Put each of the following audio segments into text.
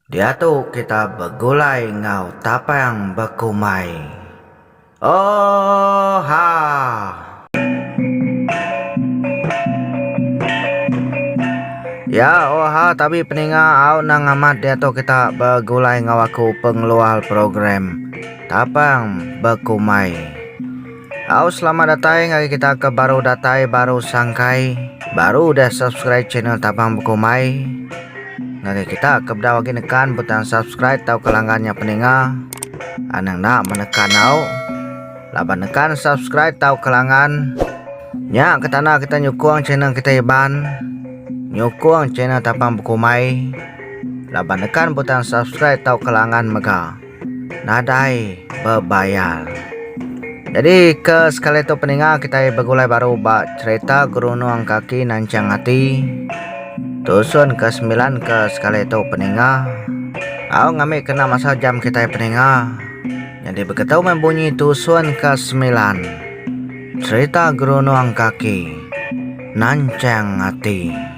Diatu kita begulai enggau tapang bekumbai. Oha! Ya oha tabi peninga au nang amat diatu kita begulai enggau aku pengeluar program tapang bekumbai. Au selamat datai ngagai kita ke baru datai baru sangkai baru udah subscribe channel Tabang Bekumai ngagai kita ke bedau agi nekan butang subscribe tau ke langgan nya peninga anang enda menekan au laban nekan subscribe tau ke langgan nya ke tanda kita nyukung channel kita Iban nyukung channel Tabang Bekumai laban nekan butang subscribe tau ke langgan mega. nadai bebayar. Jadi ke sekali tu peninga kitai begulai baru ba cerita gerunung kaki nanchang ati. Tusun ke sembilan ke sekali tu peninga. Au ngami kena masa jam kitai peninga. Jadi begitu meh bunyi tusun ke sembilan. Cerita gerunung kaki nanchang ati.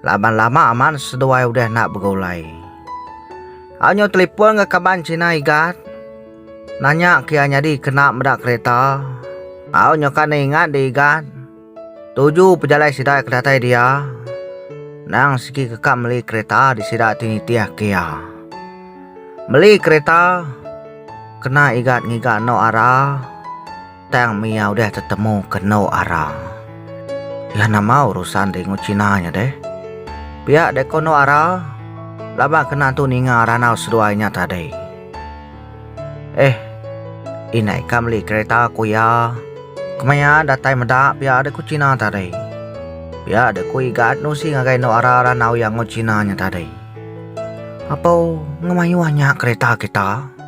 Laban lama amat seduai udah enda begulai. Anyo telipon ga kaban China Igat nanya ke iya nyadi kena meda kereta. Au nyoka ne ingat di Igat tuju pejalai sida ke datai dia endang sigi ke ka meli kereta di sida ti nitih ke iya. Meli kereta kena Igat ngiga eno ara. Tang mia udah tetemu ke endo ara. Iya nama urusan di engu China nya deh. Pia deh ko endo ara laban kena tu ninga randau seduai nya tadi. Eh indai ka meli kereta ku iya kemaya datai meda pia deh ku China tadi. Pia deh ku Igat nusi ngagai endo ara randau iya engu China nya tadi. Apo enggau mayuh nya kereta kita.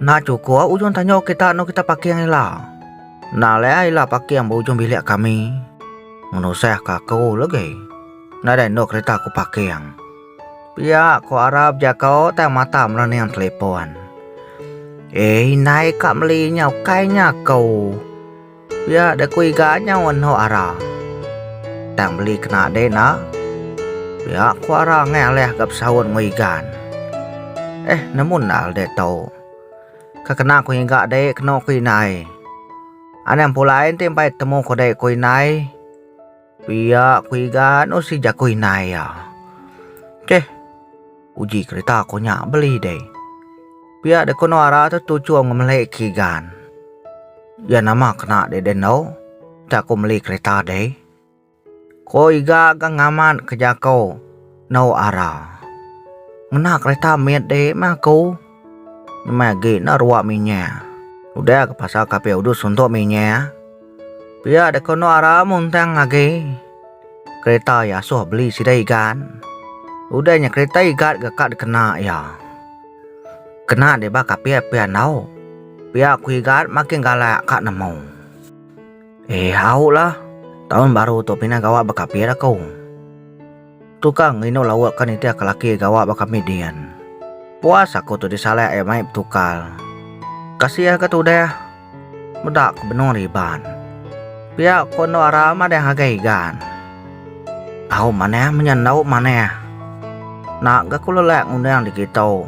Enda chukup ujung tanjung kita anu kita paking ila. Enda alai ah ila paking ba ujung bilik kami. Ngenusahka aku legi. Nadai enu kerita aku paking. Pia ku Arap jako tang mata merening telepon. Eh indai ka meli nya ukai nya aku. Pia da ku iga nyau enhok ara. Tang beli kena deh enda. Pia ku ara ngai alih ga besaut enggau igan. Eh nemu enda le deh tu. Ka kena ku ngiga deh keno ku indai. Anang pulai enti empai temu ku deh ku indai. Pia ku Igan nusi jaku indai iya. Cheh. Uji kereta ko nya beli deh. Pia deh ko nuara tu tuchung ngemeli ke Igan. Iya nama kena deh deh endo. Enda ko meli kereta deh. Ko Igan ga ngamat ke jako nuara. Ngena kereta mit deh meh aku. Nemai agi enda ruwa minya. Udah ke pasal kapi udus suntuk minya. Pia deka enda ara muntang agi. Kereta iya asuh beli sida igat. Udah nya kereta igat ga ka dikena iya. Kena deh ba kapi pia enggau. Pia ku igat makin galak ka nemu. Eh aulah, taun baru tu pina gawa bekapi laku. Tu kang nginu lauk ka nitih ka laki gawa ba kami din. Puas aku tu disalak iya mai betukal. Kasih ka tudah. Meda ke benung ri Iban. Pia ko endo ara madah ngagai igan. Au manah menya endo manah. Nak ga ku lelak ngundang dikitu.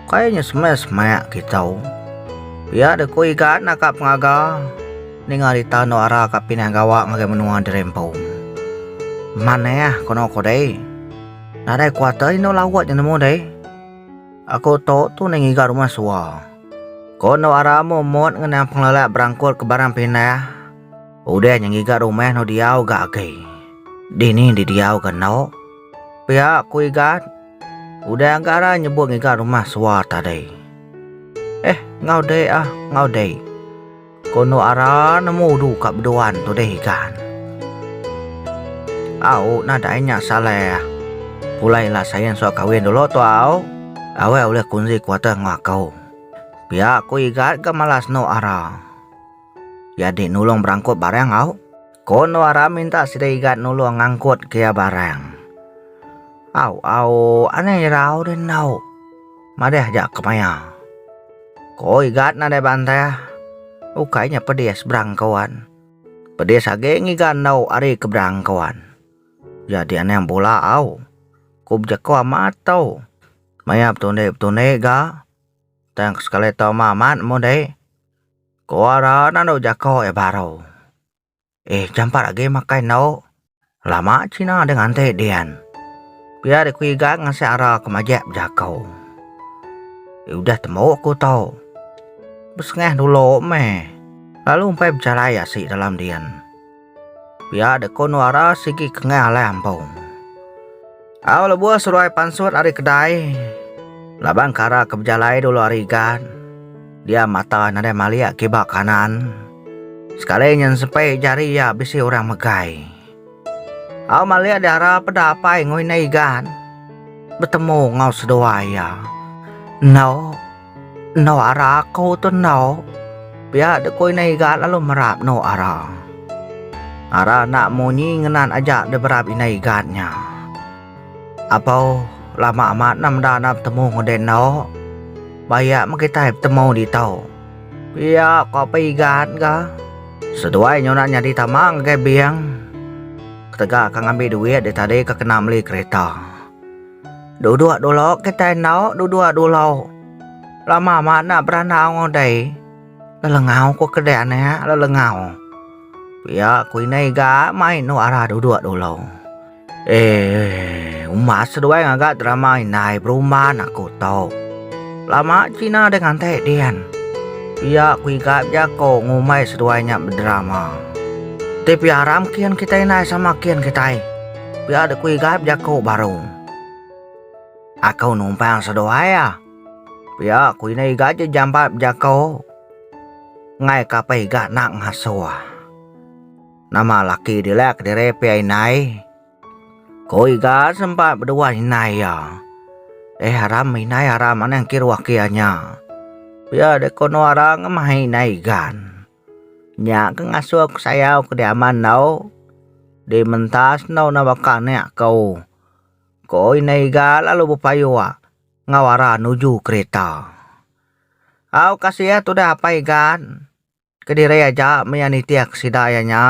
Kai nya semak semak kitu. Pia de ku igan naka pengaga. Ninga rita endo ara ka pindah gawa ngagai menua diri empu. Manah ko no ko deh. Nadai kuater endo lawat je nemu deh. Aku tu tu deh ngiga rumah sua. Ko endo ara momot ngenang pengelala berangkut ke barang pindah. Udah nya ngiga rumah eno diau ga agi. Dini di diau ga eno. Pia ku Igat. Udah ga ara nyebut ngiga rumah sua tadi. Eh enggau deh ah enggau deh. Kondo ara nemu udu ka beduan tudih ikan. Au nadai nya Saleh. Pulai la Sain suah kawin dulu tu au. Aweh ulih kunzi kuater enggau aku. Pia ku Igat ga malas endo ara. Iya di nulung berangkut barang au. Ko Nuara minta sida Igat nulung ngangkut ke iya barang. Au, au, anang irau deh endau. Madah aja ke maya. Ko Igat nadai bantah. Ukai nya pedis berangkauan. Pedis agi ngiga endau ari ke berangkauan. Jadi anang bula au. Ku bejeko amat tu. Maya betundi-betundi ga. Tang sekali tu ama amat mudi. Ko ara nandau jako e baro. Eh jampat agi makai endo. Lama cina deh nganti dian. Pia deh ku iga ngasek ara ke majek bejako. Eh udah temu ku to. Besengah dulu meh. Lalu empai bejalai asik dalam dian. Pia dek ko Nuara sigi kengai alai ampung. Au lebuh seruai pansut ari kedai laban kara ke bejalai dulu ari igat dia mata nadai malik kiba kanan sekali nyensepi jari iya bisi orang megai. Au malik diara peda apai ngoi nai igat betemu enggau seduai iya. Eno. Endu ara aku tu endu. Pia dek ku Indai Igat lalu merap endu ara. Ara enda munyi ngenat aja deh berap Indai Igat nya. Apo lama amat enda meda enda betemu enggau deh endu. Ba iya meh kitai betemu ditu. Pia ko pe Igat ga. Seduai nyunak nyadi tama ngagai bank. Ketegal ka ngambi duit deh tadi ke kena meli kereta. Duduk dulu kitai enda duduk dulu. Lama amat enda beranak enggau dai. Lelengau ku kedai anak lelengau. Pia ku indai iga mai enu arah duduk dulu. Eeii uma seduai ngaga drama indai berumban aku tu. Lama cina deh ngantai din. Pia ku iga bejaku ngumbai seduai nya bedrama. Ti pia aram kin kitai indai sama kin kitai. Pia dek ku Igai bejako baru. Ako numpang seduai a. Pia ku indai Igai je jambat bejako ngai kapai Igai nak ngasuh. Nama laki dila kediri pia indai. Ko Igai sempat bedua indai ia. Eh aram indai aram anang kiruh kia nya. Pia dek ko no arang mahi indai Igan. Nya ke ngasuh aku sayau ke deh aman enggau deh mentas enggau enda baka anak ko. Ko indai iga lalu bepayua enggau ara nuju kereta. Au kasih iya tudah apai igan kediri aja meh iya nitihka sida iya nya.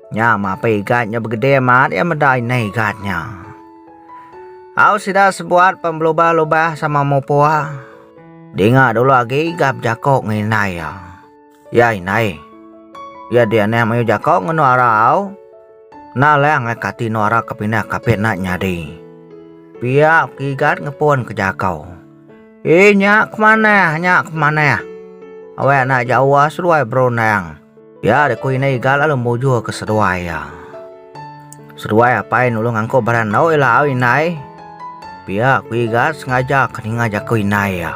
Nya meh apai igan nya begede amat iya meda indai igan nya. Au sida sebuat pen belubah-lubah sama mupua. Dinga dulu agi gap jako nginai iya. Iya inai. Iya dianih mayu jako ngenu ara au. Na leh angai kati nu ara ke pindah kapit na nyadi. Pia kigat ngepun ke jako. Inya kemanah, nya kemanah. Awek na jauh seduai berundang. Pia dek ku indai Iga lalu mujur ke seduai iya. Seduai apai nulung angkuh bala endu ila au indai. Pia ku Iga sengaja ke ninga jaku indai iya.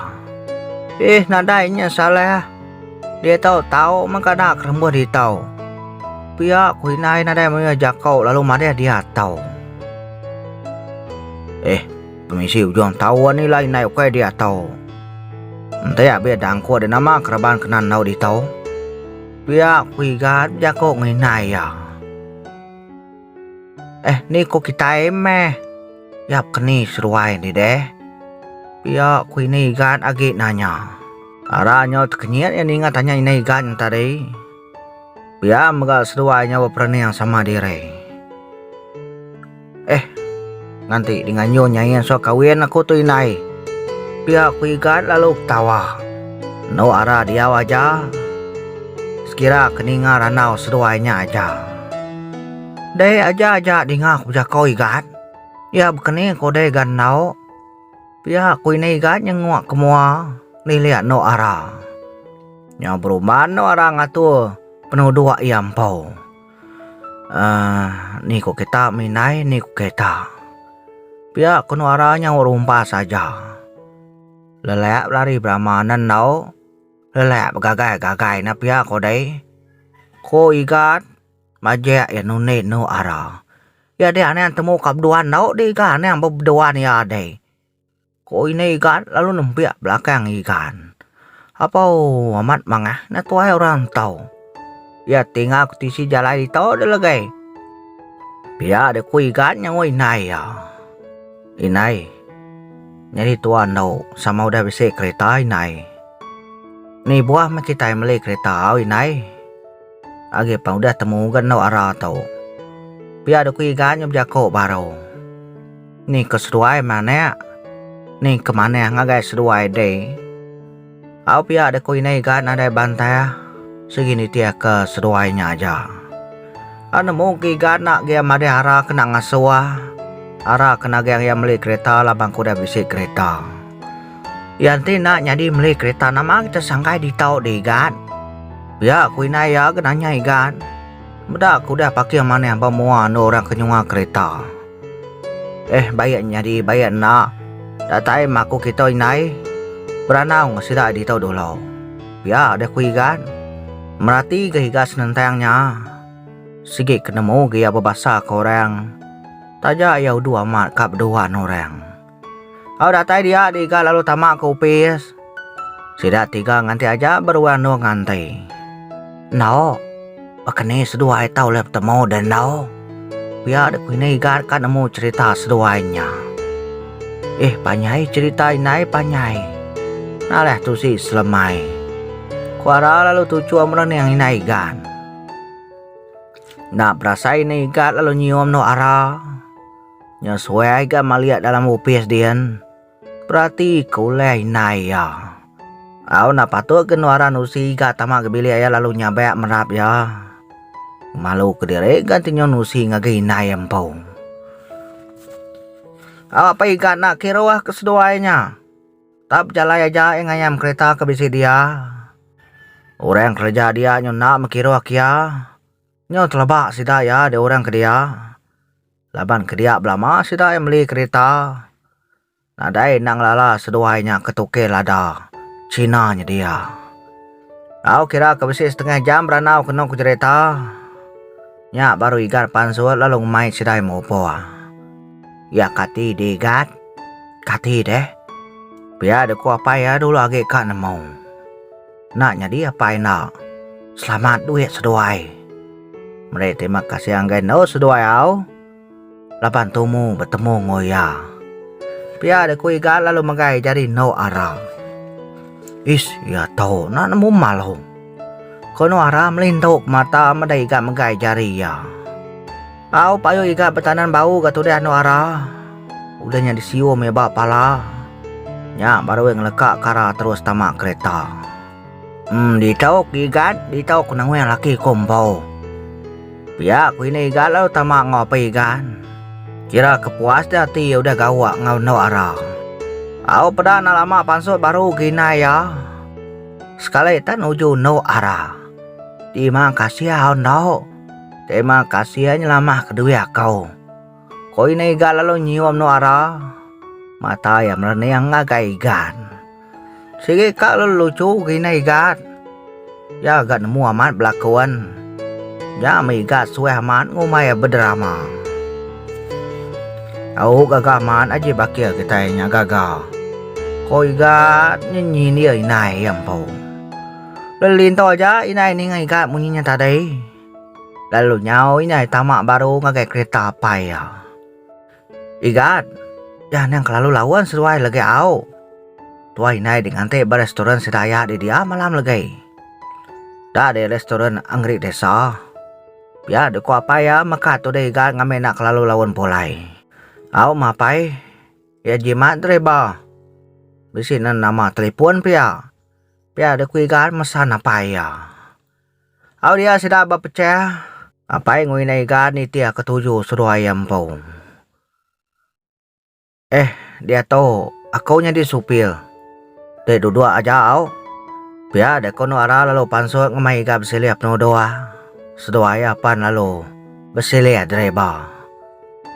Ih nadai nya Saleh ah. Diatu tau mah ka da kerembuh ditu. Pia ku indai nadai mayuh jaku lalu madih diatu. Eh. Pemisi ujung taun ni lah indai ukai dia tau. Enti abih dangku ada nama ke raban kena enggau ditau. Pia ku Igat bejako nginai iya. Eh ni ku kitai meh. Yap keni seruai ni deh. Pia ku ini Igat agi nanya. Ara nyau tekenyit iya ninga tanya ini Igat tadi. Pia mega seduai nyawa perening sama diri. Eh, nganti dengan nyu nyai anso kawin aku tu indai. Pia ku Igat lalu betawa. Enu ara diau aja. Sekira ke ninga randau seduai nya aja. Dei aja aja dinga ku bejako Igat. Iya bekening ku dei ga ndau. Pia aku ini iga nyenguk ke mua lilik endu ara. Nyau berumban endu ara ngatur penuduk iya empu. Um ni ku kita mih indai ni ku kita. Pia ku endu ara nyau rumpas aja. Lelak belari berama ne endu lelak begagai gagai ne pia ku dei. Ku igat. Majek iya nundi enu ara. Iya deh anang temu ka bedua enggau deh iga anang ba bedua iya deh. Ko ini iga lalu nembiak belakang igan. Apaw amat mangah na tuai orang entau. Iya tinga ku tisi jalai ito deh legai. Pia deh ku igan nyengo indai iya. Indai nyadi tua enggau sama udah bisi kereta indai. Ni buah meh kitai meli kereta au indai. Agi pan udah temuga endu ara tu. Pia dok ku iga nya bejako baru. Ni ko seduai meh anek. Ni ke manah ngagai seduai deh. Au pia deh ko inai iga nadai bantah sigi nitih ke seduai nya aja. Au nemu ke iga nak gia madeh ara ke nak ngasuh ara ke nagang ia meli kereta laban ke udah bisi kereta. Iya enti enda nyadi meli kerita nama kita sangkai ditau deh Igat. Pia ku indai iya ke nanya Igat. Meda ku udah pakir manah ba mua endur orang ke nyunga kerita. Eh baik nyadi baik enda datai maku kita indai beranau enggau sida ditau dulu. Pia deh ku Igat. Merati ga Igat senentang nya. Sigi ke nemu ga iya bebasa ke orang. Taja iya udu amat ka beduan orang. Au datai dia di ga lalu tama ke opis. Sida tiga nganti aja beruan endur nganti. Endo. Baka ni seduai tau ulih betemu deh endo. Pia dek ku ini igat ka nemu cerita seduai nya. Eh panjai cerita indai panjai. Naleh tusi selemai. Ku Ara lalu tuchum rening indai igat. Enda berasai indai igat lalu nyium endur Ara. Nya suai ga maliak dalam opis din. Perati ke ulih indai iya. Au enda patut ke nuaran usi ga tama ke bilik iya lalu nyabak merap iya. Malu ke diri ga tenyun usi ngagai indai iya empu. Au apai ga enda kiruh ke seduai nya. Tap bejalai aja iya ngayam kerita ke bisi dia. Orang kereja dia nyun enda mekiruh ke iya. Nyau teleba sida iya dua orang ke dia. Laban ke dia belama sida ai meli kerita, nadai endang lala seduai nya ke tukil ada China nyedia. Tau kira ke bisi setengah jam berandau ke enung ke jerita, nya baru Igat pansut lalu ngemai sidai mupung. Iya kati dih Igat? Kati deh? Pia deh ku apai iya dulu agi ka nemu. Enda nyadi apai enda. Selamat duit seduai. Meri terima kasih anggai endo seduai au laban tumu betemu enggau iya. Pia deh ku Iga lalu megai jari endo Ara. Ish iya tu enda nemu malu. Ko endo Ara melindu mata meda Iga megai jari iya. Au payuh iga betanan bau ga tudah anu ara. Udah nya disiu meh ba pala. Nya baru ai ngeleka kara terus tama kereta. Em ditok igat ditok nengweh laki ku empu. Pia ku ini igat lalu tama enggau apai igat. Kira ke puas dia ati iya udah gawa enggau anu ara. Au peda enda lama pansut baru ga inai iya. Sekali tan uju anu ara. Ti mang kasih au enda. Terima kasih ai nyelamah ke duih akau. Ko ina iga lalu nyium no ara mata iya merening ngagai igat. Sigi ka lalu lucu gina igat. Iya ga nemu amat belakon. Nya meh igat suah amat ngumbai bederama. Au gaga amat aji bakil kitai nya gaga. Ko igat nyenyin iya indai iya empu. Lelinto ja indai ninga iga munyi nya tadi, lalu nyau indai tama baru ngagai kereta apai iya. Igat, iya nang kelalu laun seduai legi au. Tuai indai di nganti ba restoran sedaya di dia malam legi. Da di restoran Anggerik Desa. Pia di ku apai iya meka tudi Igat ngambi enda kelalu laun pulai. Au mapai, iya jimat driba. Bisi na nama telefon pia. Pia deh ku Igan mesan apai iya. Au dia sida bepecah. Apai ngerinda Igan nitih ketuju seduai iya empu. Eh, diatu aku nyadi supir. Deh duduk aja au. Pia deh ku Endang Ara lalu pansut ngemai Igan besilih penuduh. Seduai iya pan lalu besilih driba.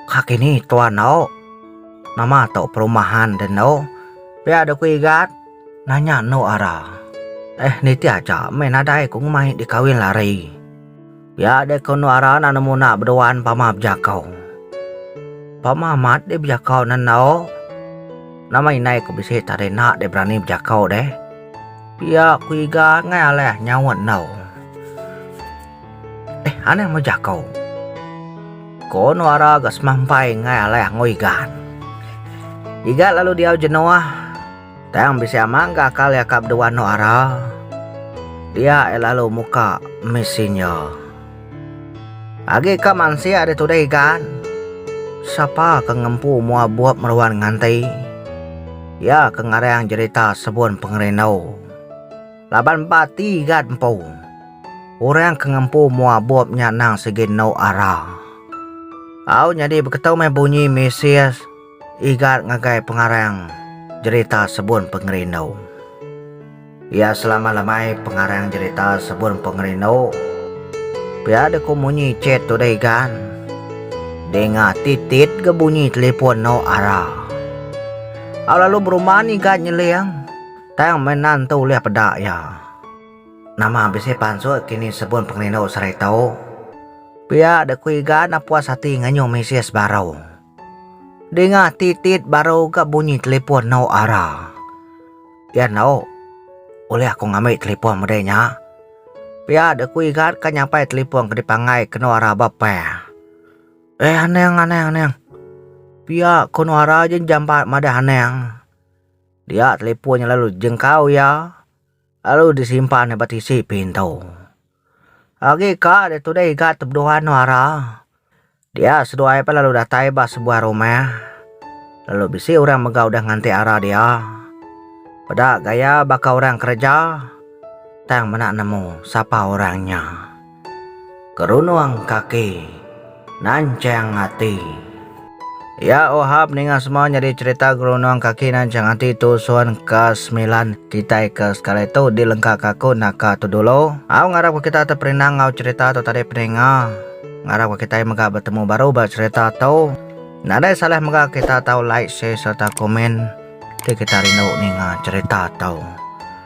Kaki ni tuan au. Nama tu perumahan deh endo? Pia deh ku Igan. Nanya endo ara. Eh niti aja meh nadai ku ngemai dikawin lari. Pia deh ku endo ara nan nemu enda beduan pama bejako. Pama amat deh bejako ne endo. Nama indai ku bisi tadi enda deh berani bejako deh. Pia ku iga ngai alai nyaut endo. Eh anang meh jako. Ko endo ara ga semampai ngai alai ango iga. Iga lalu diau jenoah. Tang bisi amat ga akal iya ka bedua anu ara. Dia iya lalu muka mesin iya. Agi ka mansik ari tudah igan. Sapa ke ngempu mua bup meruan nganti. Iya ke ngarang jerita sebun pengerindu. Laban ba ati igat empu. Orang ke ngempu mua bup nya nang sigi enu ara. Au nyadi beketu meh bunyi mesis. Igat ngagai pengarang jerita Sebun Pengerindu. Iya selama lemai pengarang jerita Sebun Pengerindu. Pia dek ku munyi chat tu deh Igat. Denga titit ga bunyi telefon eno Ara. Au lalu beruman Igat nyeling tang meh nan tu ulih peda iya. Nama bisi pansut kini Sebun Pengerindu sehari tu? Pia dek ku Igat napuas ati nganyung mesej baru. Dinga titit baru ga bunyi telipon enggau Ara. Iya enggau, Ulih aku ngambi telipon meda nya? Pia dek ku Igat ka nyampai telipon ke dipanggai kenu Ara ba peh. Eh anang anang anang. Pia ko anu Ara je jampat madah anang. Dia telipon nya lalu jengkau iya. Lalu disimpan ba tisi pintu. Agi ka dia tudah iga tebeduan nuara. Dia seduai peh lalu datai ba sebuah rumah. Lalu bisi orang mega udah nganti ara dia. Peda gaya baka orang kereja tang meda nemu sapa orang nya. Kerunung kaki, nanchang ati. Ya Ohab ninga semua nyadi cherita gerunung kaki nanchang ati tu sun ke semilan kitai ke sekali tu dilengka ka aku naka tu dulu. Au ngarap ka kita teperinang enggau cherita tu tadi peninga. Ngarap ka kitai mega betemu baru ba cherita tu. Nadai salah mega kita tau like share serta komen ti kita rindu ninga cherita tu.